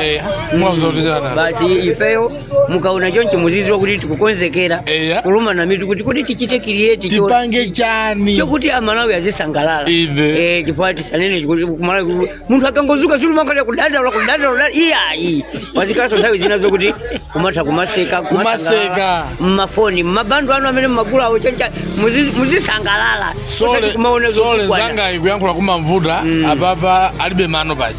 eya mwazotijana basi ifeyo mukaona choncho muziziwa kuti tikukonzekera Eya. kuluma na mitu kuti kuti tichite create tipange chani chokuti amalawi azisangalala Inde. Eh, chifukwa tisanene kuti kumalawi kuti munthu akangozuka azingolira kudandaula kudandaula iyayi pazikhalaso nthawi zina zokuti kumatha kumaseka Kumaseka. mmafoni mabando anu amene mmagula awo choncho muzi- muzisangalala sole Osati kumaona sole zotukwana. zanga ikuyankhula kumamvuta Mm. apapa alibe mano paja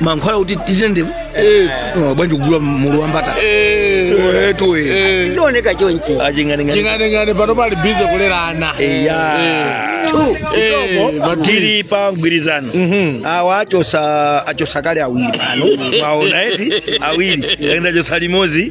mankhwala kuti tithe ndevu eh, oh, bwanji kugula mulu wa mbata etu ndioneka chonchi aching'aning'ani ching'aning'ani pano ali bize kulera ana eya Two. Eh, tili pa mgwirizano awa achosa achosa kale awiri pano mwaona eti awiri aenda chosa limodzi